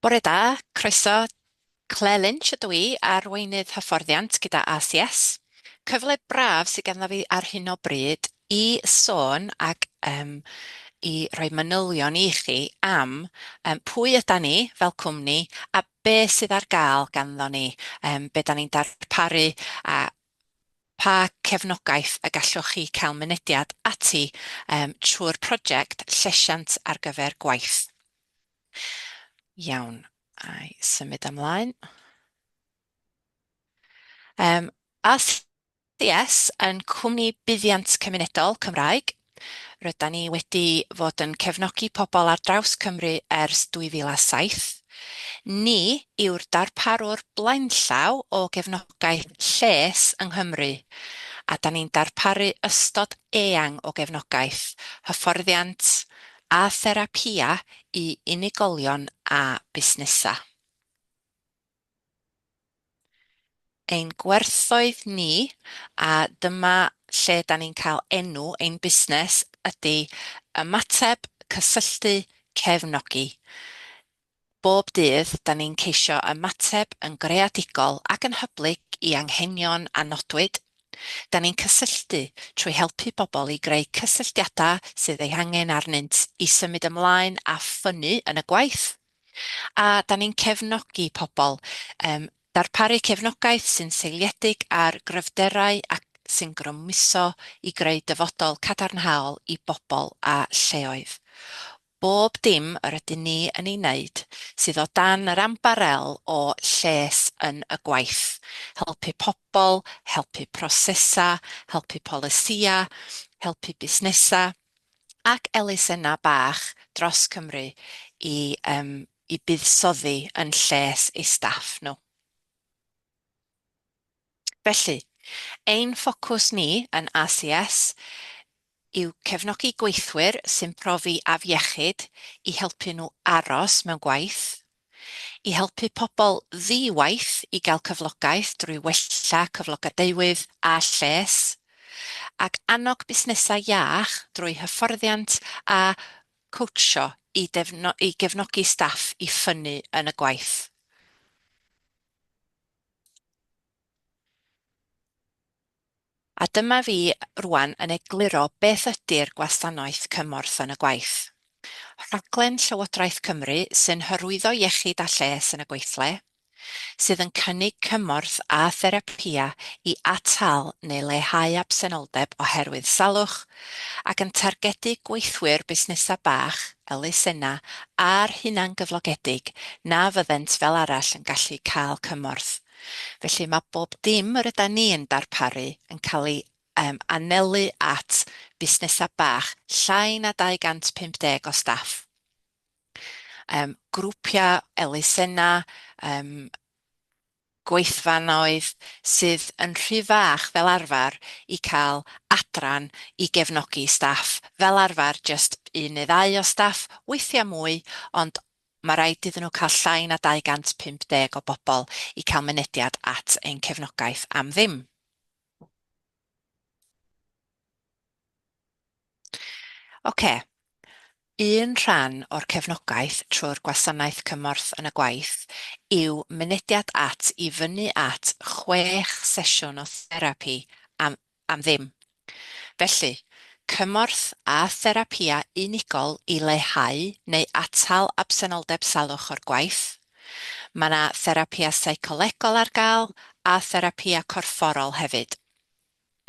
Bore da, croeso. Clare Lynch ydw i, Arweinydd Hyfforddiant gyda ACS. Cyfle braf sydd ganddo fi ar hyn o bryd i sôn ac yym i roi manylion i chi am yym pwy ydan ni fel cwmni a be sydd ar gael ganddo ni, yym be dan ni'n darparu a Pa gefnogaeth y gallwch chi cael mynediad ati trwy'r project llesiant ar gyfer gwaith? Iawn, a'i symud ymlaen. ACS yn cwmni buddiant cymunedol Cymraeg Rydan ni wedi fod yn cefnogi pobl ar draws Cymru ers 2007. Ni yw'r darparwr blaenllaw o gefnogaeth lles yng Nghymru, a da ni'n darparu ystod eang o gefnogaeth, hyfforddiant a therapïau i unigolion a busnesau. ein gwerthoedd ni a dyma lle da ni'n cael enw ein busnes ydy ymateb, cysylltu, cefnogi. Bob dydd da ni'n ceisio ymateb yn greadigol ac yn hyblyg i anghenion a nodwyd. Da ni'n cysylltu trwy helpu pobl i greu cysylltiadau sydd eu hangen arnynt i symud ymlaen a ffynnu yn y gwaith. A dan ni'n cefnogi pobl, yym darparu cefnogaeth sy'n seiliedig ar gryfderau ac sy'n grymuso i greu dyfodol cadarnhaol i bobl a lleoedd. Bob dim yr ydyn ni yn ei wneud sydd o dan yr ambarel o lles yn y gwaith, helpu pobl, helpu prosesau, helpu polisïau, helpu busnesau, ac elusennau bach dros Cymru i yym i buddsoddi yn lles eu staff nhw. Felly, ein ffocws ni yn ACS yw cefnogi gweithwyr sy'n profi afiechyd i helpu nhw aros mewn gwaith i helpu pobl ddi-waith i gael cyflogaeth drwy wella cyflogadwywydd a lles, ac annog busnesau iach drwy hyfforddiant a chowtsio i gefnogi staff i ffynnu yn y gwaith. A dyma fi rŵan yn egluro beth ydi'r Gwasanaeth Cymorth yn y Gwaith. Rhaglen Llywodraeth Cymru sy'n hyrwyddo iechyd a lles yn y gweithle, sydd yn cynnig cymorth a therapïau i atal neu leihau absenoldeb oherwydd salwch, ac yn targedu gweithwyr busnesau bach, elusennau a'r hunangyflogedig na fyddent fel arall yn gallu cael cymorth. Felly mae bob dim yr ydan ni yn darparu yn cael ei anelu at fusnesau bach, llai na 250 o staff, grwpiau elusennau, gweithfanoedd sydd yn rhy fach fel arfer i cael adran i gefnogi staff, fel arfer jyst un neu ddau o staff, weithiau mwy, ond Mae rhaid iddyn nhw cael llai na 250 o bobl i cael mynediad at ein cefnogaeth am ddim. Ocê, un rhan o'r cefnogaeth trwy'r Gwasanaeth Cymorth yn y Gwaith yw mynediad at i fyny at chwech sesiwn o therapi am am ddim. Felly, cymorth a therapïau unigol i leihau neu atal absenoldeb salwch o'r gwaith. Mae yna therapïau seicolegol ar gael a therapïau corfforol hefyd.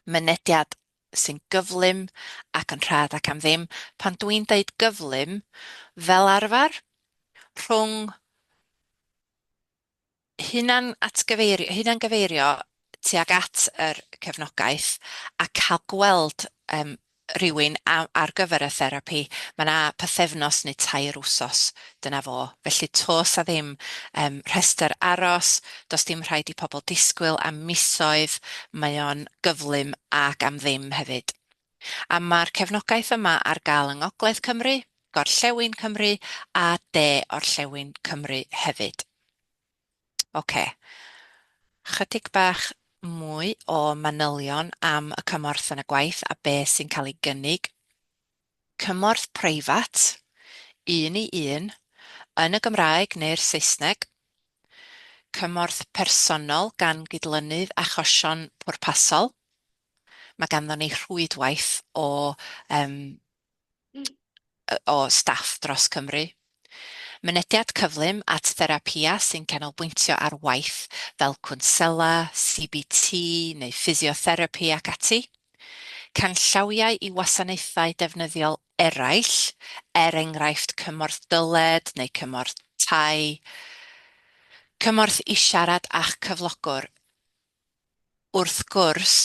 Mynediad sy'n gyflym ac yn rhad ac am ddim, pan dw i'n deud gyflym, fel arfer, rhwng hunanatgyfeirio, hunangyfeirio tuag at yr cefnogaeth a cael gweld yym rywun a- ar gyfer y therapi, ma' 'na pythefnos neu tair wsos, dyna fo. Felly to's 'a ddim yym rhestr aros, do's dim rhaid i pobl disgwyl am misoedd, mae o'n gyflym ac am ddim hefyd. A mae'r cefnogaeth yma ar gael yng Ngogledd Cymru, Gorllewin Cymru a De Orllewin Cymru hefyd. Ocê. Chydig bach mwy o manylion am y cymorth yn y gwaith a be sy'n cael ei gynnig. Cymorth preifat, un i un, yn y Gymraeg neu'r Saesneg. Cymorth personol gan gydlynydd achosion pwrpasol. Mae ganddon ni rhwydwaith o yym o staff dros Cymru. Mynediad cyflym at therapïa sy'n canolbwyntio ar waith fel cwnsela, CBT neu ffisiotherapi ac ati. Canllawiau i wasanaethau defnyddiol eraill, er enghraifft cymorth dyled neu cymorth tai. Cymorth i siarad â'ch cyflogwr. wrth gwrs,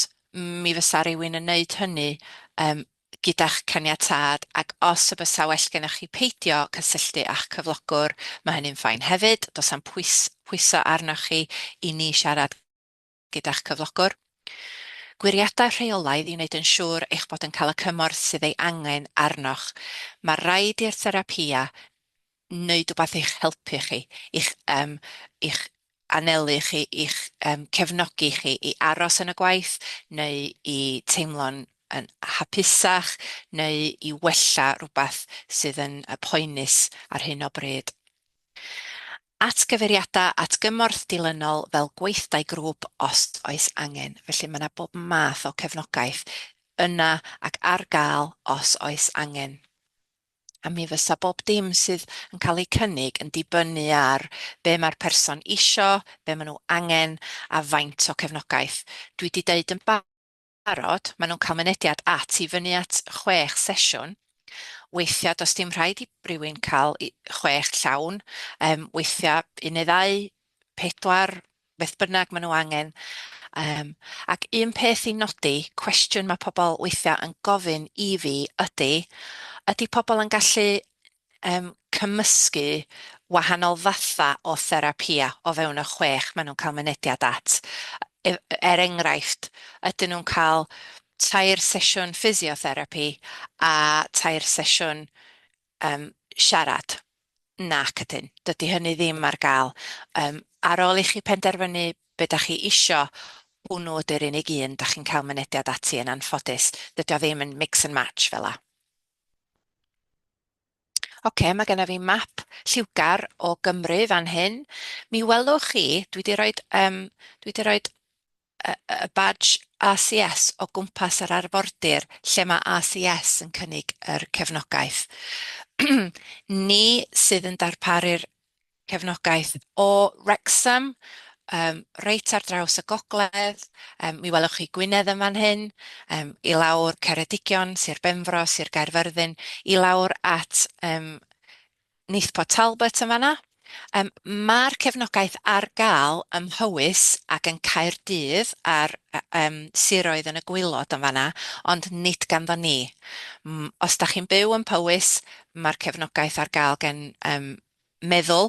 mi fysa rywun yn wneud hynny yym gyda'ch caniatâd, ac os y bysa well gennych chi peidio cysylltu â'ch cyflogwr, mae hynny'n fine hefyd, does na'm pwys- pwyso arnoch chi i ni siarad gyda'ch cyflogwr. Gwiriadau rheolaidd i wneud yn siŵr eich bod yn cael y cymorth sydd ei angen arnoch. Mae rhaid i'r therapïa wneud wbath i'ch helpu chi, i'ch yym i'ch anelu chi, i'ch yym cefnogi chi i aros yn y gwaith neu i teimlo'n yn hapusach neu i wella rhywbeth sydd yn yy poenus ar hyn o bryd. Atgyfeiriadau at gymorth dilynol fel gweithdai grŵp os oes angen, felly mae 'na bob math o cefnogaeth yna ac ar gael os oes angen. a mi fysa bob dim sydd yn cael eu cynnig yn dibynnu ar be mae'r person isio, be maen nhw angen a faint o cefnogaeth. Dwi wedi deud yn barod, maen nhw'n cael mynediad at i fyny at chwech sesiwn, weithiau does dim rhaid i rywun cael chwech llawn, weithiau un neu ddau, pedwar, beth bynnag maen nhw angen. Um, ac un peth i nodi, cwestiwn mae pobl weithiau yn gofyn i fi ydy, ydy pobl yn gallu um, cymysgu wahanol fatha o therapia o fewn y chwech maen nhw'n cael mynediad at. E, er enghraifft, ydyn nhw'n cael tair sesiwn ffisiotherapi a tair sesiwn yym siarad. Nac ydyn, dydy hynny ddim ar gael. Yym ar ôl i chi penderfynu be dach chi isio, hwnnw ydy'r unig un dach chi'n cael mynediad ati yn anffodus. Dydy o ddim yn mix and match fel 'na. Ocê, mae genna fi map lliwgar o Gymru fan hyn. Mi welwch chi, dwi 'di roid yym dwi 'di roid y badge ACS o gwmpas yr arfordir lle mae ACS yn cynnig yr cefnogaeth. Ni sydd yn darparu'r cefnogaeth o Wrecsam, reit ar draws y gogledd, mi welwch chi Gwynedd yn fan hyn, i lawr Ceredigion, Sir Benfro, Sir Gaerfyrddin, i lawr at Neith Port Talbot yn fan'na. Yym ma'r cefnogaeth ar ga'l ym Mhowys ac yn Caerdydd a'r yym siroedd yn y gwaelod yn fan'na ond nid ganddo ni. M- os dach chi'n byw yn Powys ma'r cefnogaeth ar ga'l gen yym Meddwl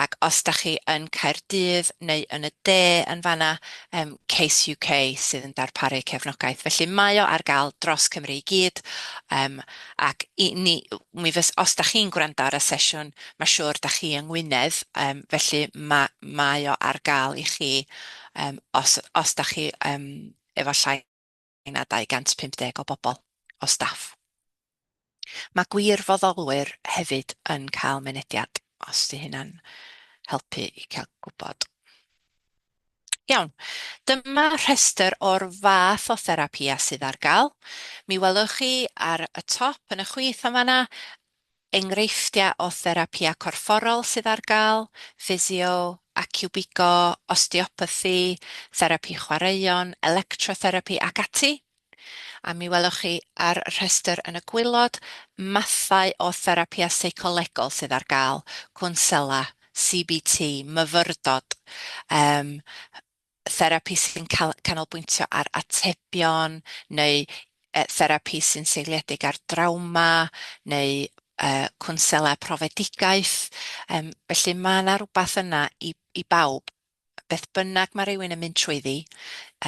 ac os dach chi yn Caerdydd neu yn y de yn fan'na yym Case UK sydd yn darparu cefnogaeth felly mae o ar ga'l dros Cymru i gyd yym ac i ni, mi fys-, os dach chi'n gwrando ar y sesiwn, ma' siŵr dach chi yng Ngwynedd, yym felly ma' mae o ar gael i chi yym os os dach chi yym efo llai na 250 o bobl o staff. Ma' gwirfoddolwyr hefyd yn cael mynediad, os 'di hynna'n helpu i cael gwbod. Iawn, dyma rhestr o'r fath o therapïau sydd ar gael. Mi welwch chi ar y top yn y chwith yn fan'na enghreifftiau o therapïau corfforol sydd ar gael, ffisio, aciwbigo, osteopathi, therapi chwaraeon, electrotherapi ac ati. a mi welwch chi ar y rhestr yn y gwaelod mathau o therapïau seicolegol sydd ar gael, cwnsela, CBT, myfyrdod, um, therapi sy'n canolbwyntio ar atebion neu uh, therapi sy'n seiliedig ar drawma neu uh, cwnsela profedigaeth. Um, felly mae yna rhywbeth yna i, i bawb. Beth bynnag mae rhywun yn mynd trwyddi,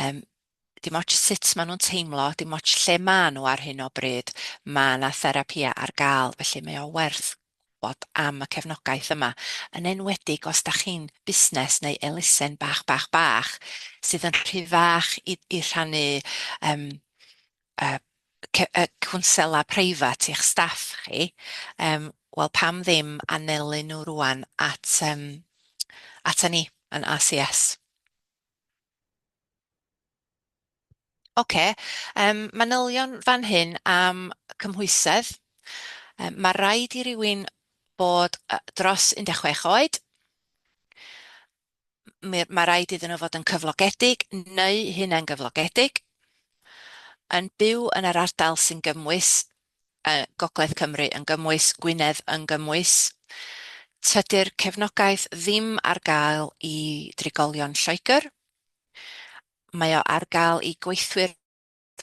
um, dim ots sut maen nhw'n teimlo, dim ots lle maen nhw ar hyn o bryd, mae 'na therapïau ar gael, felly mae o werth gwybod am y cefnogaeth yma, yn enwedig os dach chi'n busnes neu elusen bach, bach, bach, sydd yn rhy fach i i rhannu yym yy ce- yy cwnsela preifat i'ch staff chi, yym wel pam ddim anelu nhw rŵan at yym ata ni yn ACS. Ocê, yym manylion fan hyn am cymhwysedd. Yy ma' raid i rywun bod yy dros 16 oed, mi- ma' raid iddyn nhw fod yn cyflogedig neu hunangyflogedig, yn byw yn yr ardal sy'n gymwys Gogledd Cymru yn gymwys, Gwynedd yn gymwys. Tydi'r cefnogaeth ddim ar gael i drigolion Lloegr. Mae o ar gael i gweithwyr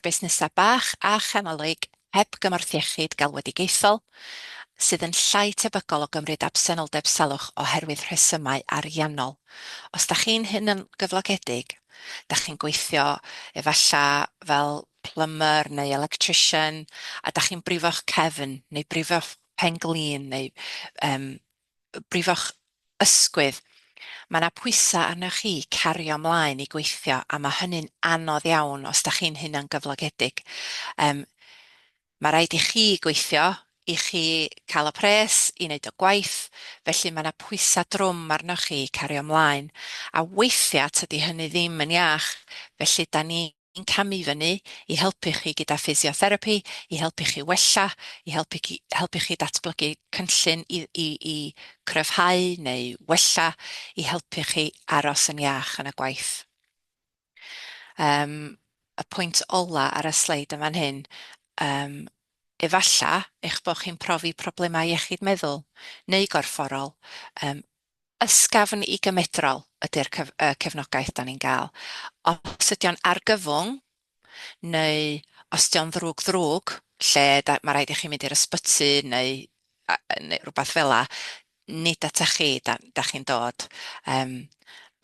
busnesau bach a chanolig heb gymorth iechyd galwedigaethol, sydd yn llai tebygol o gymryd absenoldeb salwch oherwydd rhesymau ariannol. Os da chi'n hunangyflogedig, da chi'n gweithio efallai fel plumber neu electrician a dach chi'n brifo'ch cefn neu brifo'ch pen-glin neu yym brifo'ch ysgwydd, mae 'na pwysau arnoch chi i cario mlaen i gweithio a mae hynny'n anodd iawn os dach chi'n hunangyflogedig. Yym mae rhaid i chi gweithio i chi cael y pres i wneud y gwaith, felly mae 'na pwysau drwm arnoch chi i cario mlaen a weithiau tydi hynny ddim yn iach, felly 'dan ni ni'n camu fyny i helpu chi gyda physiotherapi, i helpu chi wella, i helpu chi helpu chi datblygu cynllun i i i cryfhau neu wella, i helpu chi aros yn iach yn y gwaith. Yym, y pwynt ola ar y sleid yn fan hyn, yym, efalla eich bod chi'n profi problemau iechyd meddwl neu gorfforol, yym, ysgafn i gymedrol ydy'r cefnogaeth dan ni'n gael. Os ydy o'n argyfwng, neu os ydy o'n ddrwg ddrwg, lle mae rhaid i chi mynd i'r ysbyty neu, neu rhywbeth fel la, nid ata chi da, da chi'n dod. Um,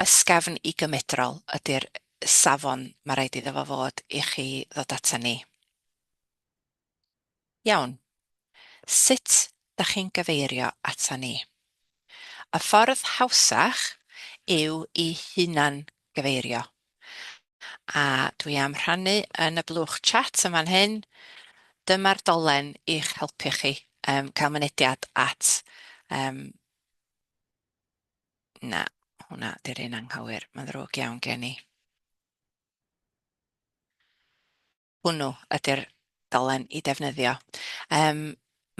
ysgafn i gymedrol ydy'r safon mae rhaid iddo fo fod i chi ddod ata ni. Iawn, sut dach chi'n gyfeirio ata ni? Y ffordd hawsach yw i hunan gyfeirio, a dwi am rhannu yn y blwch chat yn fan hyn, dyma'r dolen i'ch helpu chi um, cael mynediad at... Um, na, hwnna di'r un anghywir, mae'n ddrwg iawn gen i. hwnnw ydy'r dolen i ddefnyddio. Yym,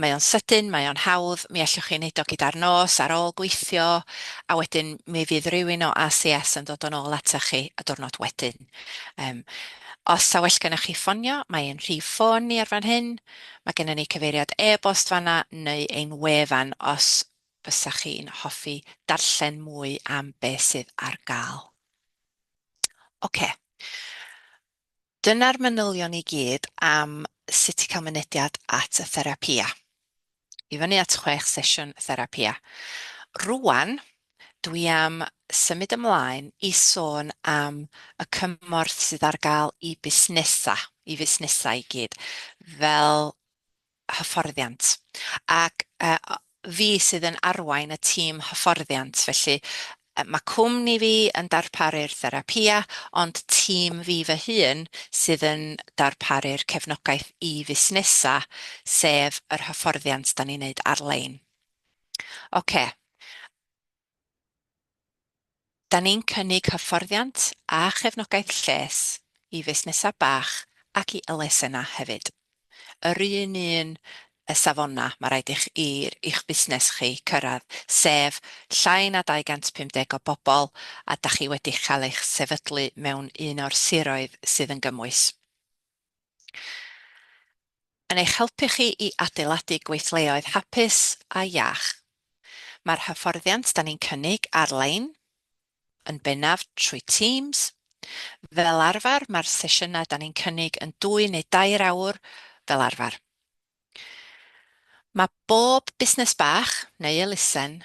mae o'n sydyn, mae o'n hawdd, mi allwch chi wneud o gyda'r nos ar ôl gweithio, a wedyn mi fydd rhywun o ACS yn dod yn ôl ata chi y diwrnod wedyn. Um, os ta well gennych chi ffonio, mae ein rhif ffôn ni ar fan hyn, mae gennym ni cyfeiriad e-bost fanna neu ein wefan os fysa chi'n hoffi darllen mwy am beth sydd ar gael. Oce. Okay. Dyna'r manylion i gyd am sut i cael mynediad at y therapia. I fyny at chwech sesiwn therapia. Rŵan, dwi am symud ymlaen i sôn am y cymorth sydd ar gael i busnesau, i fusnesau i gyd, fel hyfforddiant. Ac fi sydd yn arwain y tîm hyfforddiant, felly mae cwmni fi yn darparu'r therapïau, ond tîm fi fy hun sydd yn darparu'r cefnogaeth i fusnesau, sef yr hyfforddiant dan ni'n wneud ar-lein. Ocê. Da ni'n cynnig hyfforddiant a chefnogaeth lles i fusnesau bach ac i elusennau hefyd. Yr un un y safonau mae rhaid i'ch i'ch busnes chi cyrraedd, sef llai na 250 o bobl a da chi wedi cael eich sefydlu mewn un o'r siroedd sydd yn gymwys. yn eich helpu chi i adeiladu gweithleoedd hapus a iach. Mae'r hyfforddiant da ni'n cynnig ar-lein, yn bennaf trwy Teams. Fel arfer, mae'r sesiynau da ni'n cynnig yn dwy neu dair awr fel arfer. Mae bob busnes bach, neu elusen,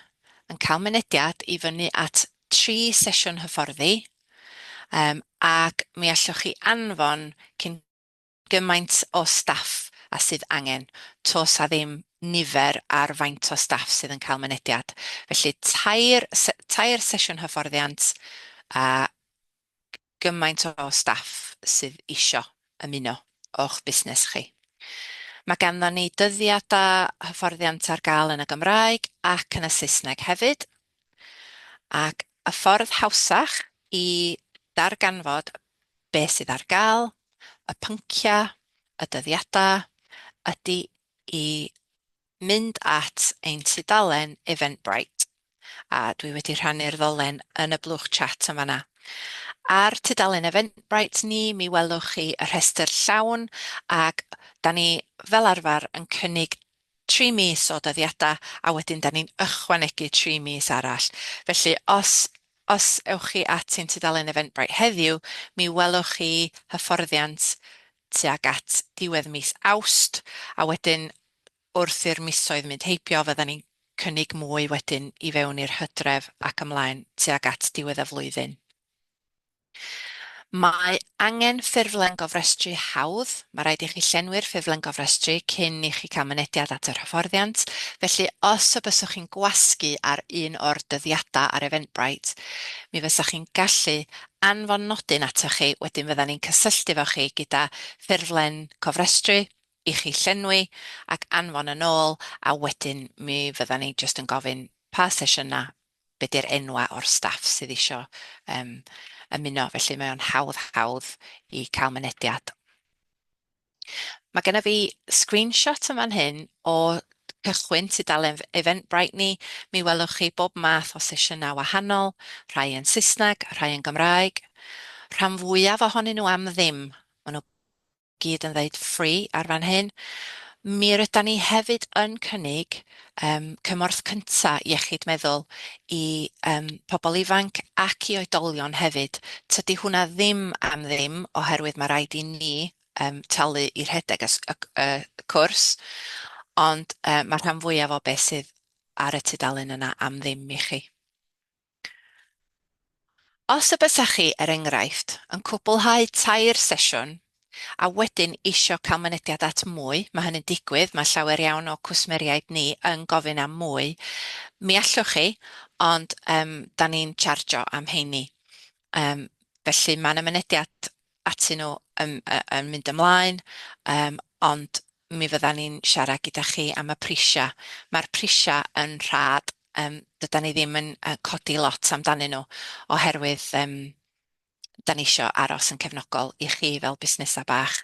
yn cael mynediad i fyny at tri sesiwn hyfforddi, yym, ac mi allwch chi anfon cyn gymaint o staff â sydd angen, toes a ddim nifer ar faint o staff sydd yn cael mynediad. Felly, tair se- tair sesiwn hyfforddiant, a gymaint o staff sydd isio ymuno o'ch busnes chi. Mae ganddon ni dyddiadau hyfforddiant ar gael yn y Gymraeg ac yn y Saesneg hefyd, ac y ffordd hawsach i ddarganfod beth sydd ar gael, y pynciau, y dyddiadau, ydy i mynd at ein tudalen Eventbrite, a dwi wedi rhannu'r ddolen yn y blwch chat yn fan'na. Ar tudalen Eventbrite ni, mi welwch chi y rhestr llawn, ac 'dan ni fel arfer yn cynnig tri mis o dyddiadau, a wedyn 'dan ni'n ychwanegu tri mis arall. Felly, os os ewch chi at ein tudalen Eventbrite heddiw, mi welwch chi hyfforddiant tuag at ddiwedd mis Awst, a wedyn wrth i'r misoedd mynd heibio fyddan ni'n cynnig mwy wedyn i fewn i'r hydref ac ymlaen tuag at diwedd y flwyddyn. Mae angen ffurflen gofrestru hawdd, mae rhaid i chi llenwi'r ffurflen gofrestru cyn i chi cael mynediad at yr hyfforddiant, felly os y byswch chi'n gwasgu ar un o'r dyddiadau ar Eventbrite, mi fysach chi'n gallu anfon nodyn atoch chi, wedyn fyddan ni'n cysylltu efo chi gyda ffurflen cofrestru i chi llenwi ac anfon yn ôl, a wedyn mi fyddan ni jyst yn gofyn pa sesiynau, be di'r enwau o'r staff sydd isio ymuno, felly mae o'n hawdd hawdd i cael mynediad. Mae gennyf fi screenshot yn fan hyn o cychwyn tudalen Eventbrite ni. Mi welwch chi bob math o sesiynau wahanol, rhai yn Saesneg, rhai yn Gymraeg. Rhan fwyaf ohonyn nhw am ddim. Maen nhw gyd yn ddeud free ar fan hyn. Mi rydan ni hefyd yn cynnig yym cymorth cynta' iechyd meddwl i yym pobl ifanc ac i oedolion hefyd. Tydi hwnna ddim am ddim oherwydd ma' raid i ni yym talu i rhedeg y s- y c- y cwrs ond yy ma'r rhan fwyaf o be' sydd ar y tudalen yna am ddim i chi. Os y bysach chi, er enghraifft, yn cwblhau tair sesiwn a wedyn isio cael mynediad at mwy, mae hynny'n digwydd, mae llawer iawn o cwsmeriaid ni yn gofyn am mwy, mi allwch chi, ond yym da ni'n chargio am heini. Yym felly mae 'na mynediad atyn nhw yn yn mynd ymlaen, yym ond mi fyddan ni'n siarad gyda chi am y prisiau. Mae'r prisiau yn rhad, yym dydan ni ddim yn yy codi lot amdanyn nhw oherwydd yym 'dan ni isio aros yn cefnogol i chi fel busnesau bach.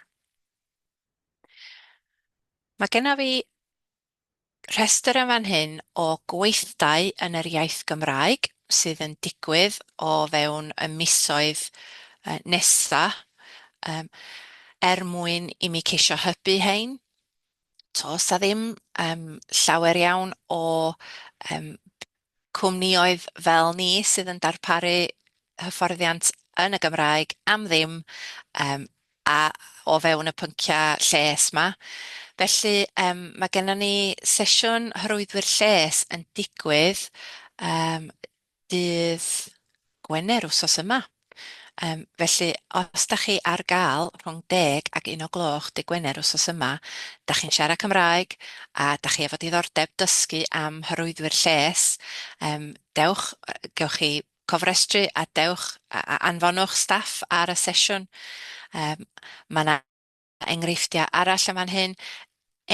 Mae genna fi Rhestr yn fan hyn o gweithdai yn yr iaith Gymraeg sydd yn digwydd o fewn y misoedd nesa, yym, er mwyn i mi ceisio hybu hein. T'o' 'sa ddim yym llawer iawn o yym cwmnïoedd fel ni sydd yn darparu hyfforddiant yn y Gymraeg am ddim yym a o fewn y pynciau lles 'ma. Felly yym mae gennon ni sesiwn Horwyddwyr Lles yn digwydd yym dydd Gwener wsos yma. Yym, felly, os da chi ar gael rhwng deg ac un o gloch dydd Gwener wsos yma, da chi'n siarad Cymraeg a da chi efo diddordeb dysgu am hyrwyddwyr lles, yym, dewch, gewch chi cofrestru a dewch a anfonwch staff ar y sesiwn. Yym, mae 'na Enghreifftiau arall yn fan hyn,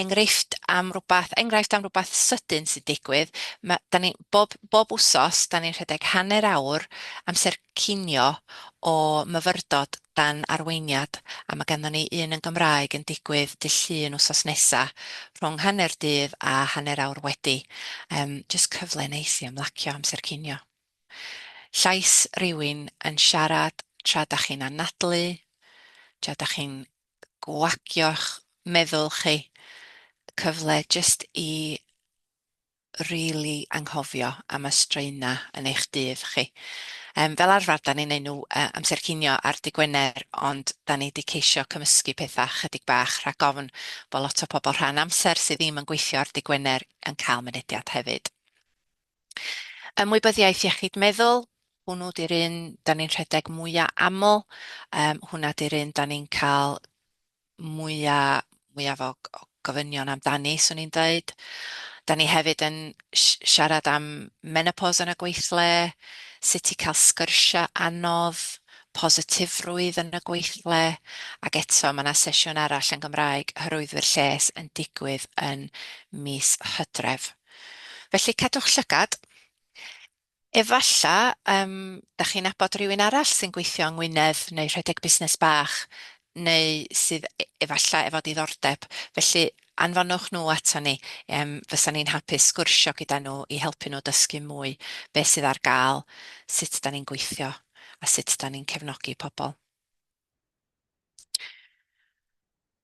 enghreifft am rywbeth, enghraifft am rywbeth sydyn sy'n digwydd. Ma'... dan ni... bob... bob wsos, dan ni'n rhedeg hanner awr amser cinio o myfyrdod dan arweiniad, a ma' ganddo ni un yn Gymraeg yn digwydd dydd Llun wsos nesa, rhwng hanner dydd a hanner awr wedi. Yym, jyst cyfle neis i ymlacio amser cinio. Llais rywun yn siarad tra dach chi'n anadlu, tra dach chi'n gwagio'ch meddwl chi, cyfle jyst i rili anghofio am y straenau yn eich dydd chi. Yym, fel arfer 'dan ni'n neud nhw yy amser cinio ar dy' Gwener ond 'dan ni 'di ceisio cymysgu petha' chydig bach rhag ofn bo' lot o pobl rhan amser sydd ddim yn gweithio ar dy' Gwener yn cael mynediad hefyd. Ymwybyddiaeth iechyd meddwl, hwnnw 'di'r un 'dan ni'n rhedeg mwya' aml, yym hwnna 'di'r un 'dan ni'n ca'l mwya', mwyaf o o gofynion amdani, 'swn i'n deud. 'Dan ni hefyd yn si- siarad am menopos yn y gweithle, sut i ca'l sgyrsia' anodd, positifrwydd yn y gweithle, ag eto ma' 'na sesiwn arall yn Gymraeg, Hyrwyddwyr Lles, yn digwydd yn mis Hydref. Felly cadwch llygad. Efalla yym dach chi'n nabod rhywun arall sy'n gweithio yng Ngwynedd neu rhedeg busnes bach neu sydd e- efalla efo diddordeb, felly anfonwch nhw aton ni, yym fysa ni'n hapus sgwrsio gyda nhw i helpu nhw dysgu mwy be sydd ar gael, sut dan ni'n gweithio a sut dan ni'n cefnogi pobl.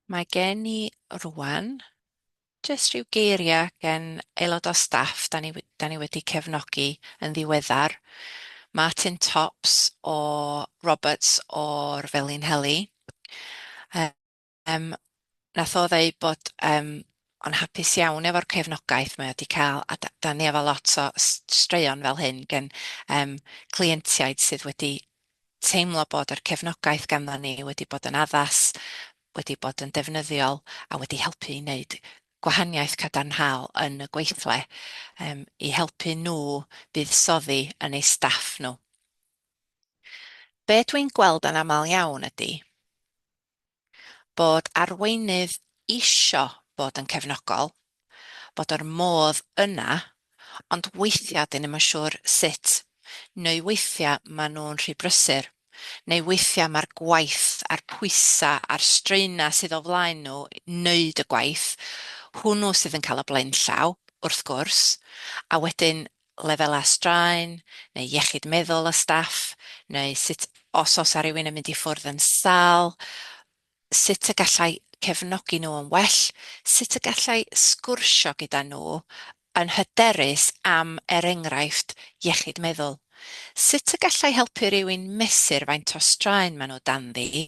Mae gen i rŵan Jyst rhyw geiriau gen aelod o staff dan ni dan ni wedi cefnogi yn ddiweddar, Martin Tops o Roberts o'r Felinheli. Yym wnaeth o ddeud bod yym o'n hapus iawn efo'r cefnogaeth mae o wedi cael a da- dan ni efo lot o s- straeon fel hyn gen yym cleientiaid sydd wedi teimlo bod yr cefnogaeth ganddon ni wedi bod yn addas, wedi bod yn ddefnyddiol a wedi helpu i wneud gwahaniaeth cadarnhaol yn y gweithle, yym, i helpu nhw buddsoddi yn eu staff nhw. Be dwi'n gweld yn aml iawn ydy bod arweinydd isio bod yn cefnogol, bod yr modd yna, ond weithiau dyn ni'm yn siwr sut, neu weithiau maen nhw'n rhy brysur, neu weithiau mae'r gwaith a'r pwysau a'r straenau sydd o flaen nhw i wneud y gwaith, hwnnw sydd yn cael y blaenllaw, wrth gwrs, a wedyn lefelau straen, neu iechyd meddwl y staff, neu sut os oes 'na rywun yn mynd i ffwrdd yn sâl, sut y gallai cefnogi nhw yn well, sut y gallai sgwrsio gyda nhw yn hyderus am er enghraifft iechyd meddwl, sut y gallai helpu rhywun mesur faint o straen maen nhw danddi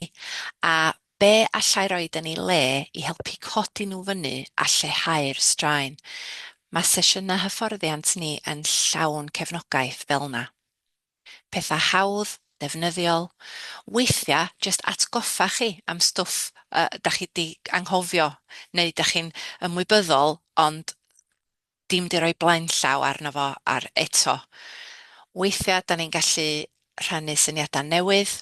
a be allai roed yn ei le i helpu codi nhw fyny a lleihau'r straen. Mae sesiynau hyfforddiant ni yn llawn cefnogaeth fel yna. Pethau hawdd, defnyddiol, weithiau jyst atgoffa chi am stwff yy dach chi 'di anghofio neu dach chi'n ymwybyddol ond dim 'di rhoi blaenllaw arno fo a'r eto weithiau 'dan ni'n gallu rhannu syniadau newydd,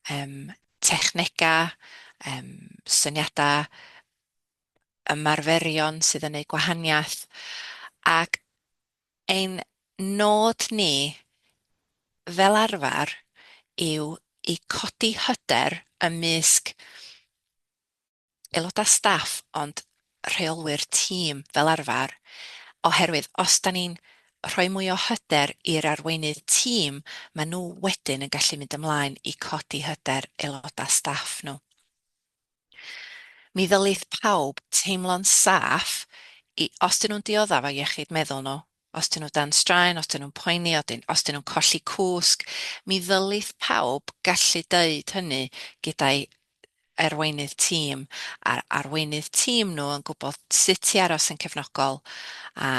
yym technegau, yym syniadau ymarferion sydd yn neud gwahaniaeth ac Ein nod ni, fel arfer, yw i codi hyder ymysg aelodau staff ond rheolwyr tîm fel arfer, oherwydd os da ni'n rhoi mwy o hyder i'r arweinydd tîm, maen nhw wedyn yn gallu mynd ymlaen i codi hyder aelodau staff nhw. Mi ddylith pawb teimlo'n saff i, os dyn nhw'n diodda' efo iechyd meddwl nhw, os dyn nhw dan straen, os dyn nhw'n poeni, os dyn nhw'n colli cwsg, mi ddylith pawb gallu deud hynny gyda'i arweinydd tîm, a'r arweinydd tîm nhw yn gwybod sut i aros yn cefnogol a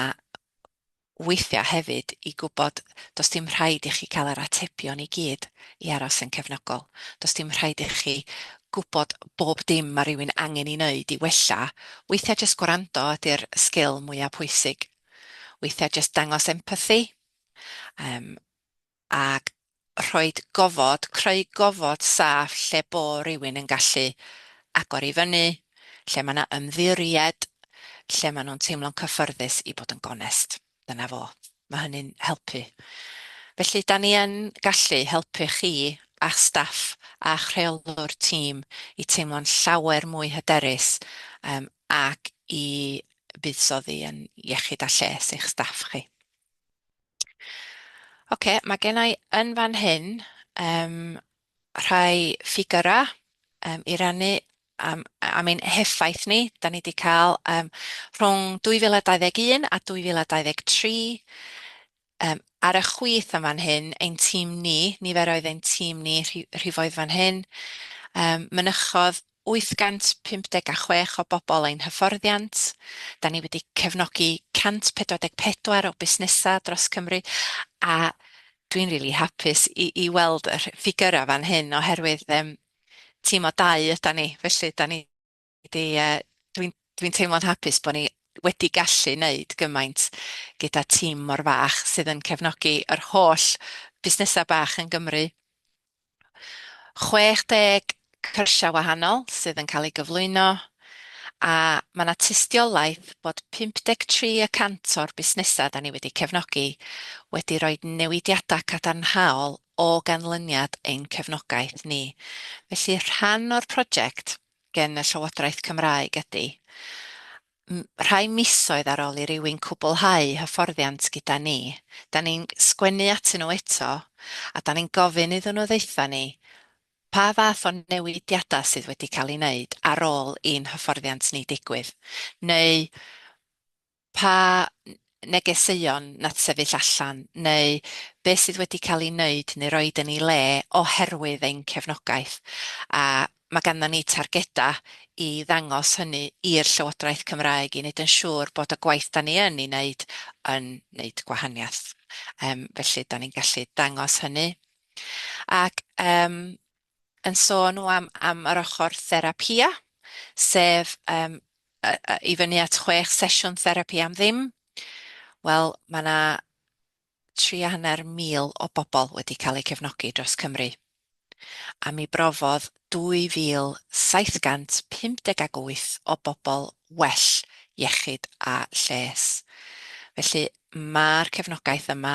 weithiau hefyd i gwybod does dim rhaid i chi cael yr atebion i gyd i aros yn cefnogol, does dim rhaid i chi gwybod bob dim mae rhywun angen ei wneud i wella, weithiau jyst gwrando ydy'r sgil mwyaf pwysig, weithiau jyst dangos empathi, yym, ac rhoi gofod, creu gofod saff lle bo' rywun yn gallu agor i fyny, lle ma' 'na ymddiried, lle ma' nhw'n teimlo'n cyffyrddus i bod yn gonest. Dyna fo. Ma' hynny'n helpu. Felly, 'dan ni yn gallu helpu chi a'ch staff a'ch rheolwr tîm i teimlo'n llawer mwy hyderus yym ac i fuddsoddi yn iechyd a lles eich staff chi. Ocê, mae gen i yn fan hyn yym rhai ffigyrau yym i rannu am am ein heffaith ni. Dan ni 'di cael yym rhwng 2021 a 2023 yym ar y chwith yn fan hyn, ein tîm ni, nifer oedd ein tîm ni rhi- rhifoedd fan hyn yym mynychodd 856 o bobl ein hyfforddiant, da ni wedi cefnogi 144 o busnesau dros Cymru, a dwi'n rili hapus i weld y ffigyrau fan hyn oherwydd tîm o dau ydan ni, felly da ni 'di yy dwi'n teimlo'n hapus bod ni wedi gallu neud gymaint gyda tîm mor fach sydd yn cefnogi yr holl busnesau bach yn Gymru, 60 cyrsiau wahanol sydd yn cael eu gyflwyno, a mae 'na tystiolaeth bod 53 y cant o'r busnesau 'da ni wedi cefnogi wedi rhoi newidiadau cadarnhaol o ganlyniad ein cefnogaeth ni. Felly, rhan o'r project gen y Llywodraeth Cymraeg ydy Rhai misoedd ar ol i rywun cwblhau hyfforddiant gyda ni, da ni'n sgwennu atyn nhw eto a da ni'n gofyn iddyn nhw ddaetha ni pa fath o newidiadau sydd wedi cael eu wneud ar ol i'n hyfforddiant ni digwydd, neu pa negeseuon na sefyll allan neu beth sydd wedi cael ei wneud neu roid yn ei le oherwydd ein cefnogaeth, a mae ganddon ni targedau i ddangos hynny i'r Llywodraeth Cymraeg i wneud yn siŵr bod y gwaith dan ni yn ei wneud yn wneud gwahaniaeth. Yym felly dan ni'n gallu dangos hynny ac yym yn sôn nhw am am yr ochr therapia, sef yym yy yy i fyny at chwech sesiwn therapi am ddim, wel ma' 'na tri a hanner mil o bobl wedi cael eu cefnogi dros Cymru, a mi brofodd 2,758 o bobl well iechyd a lles. Felly ma'r cefnogaeth yma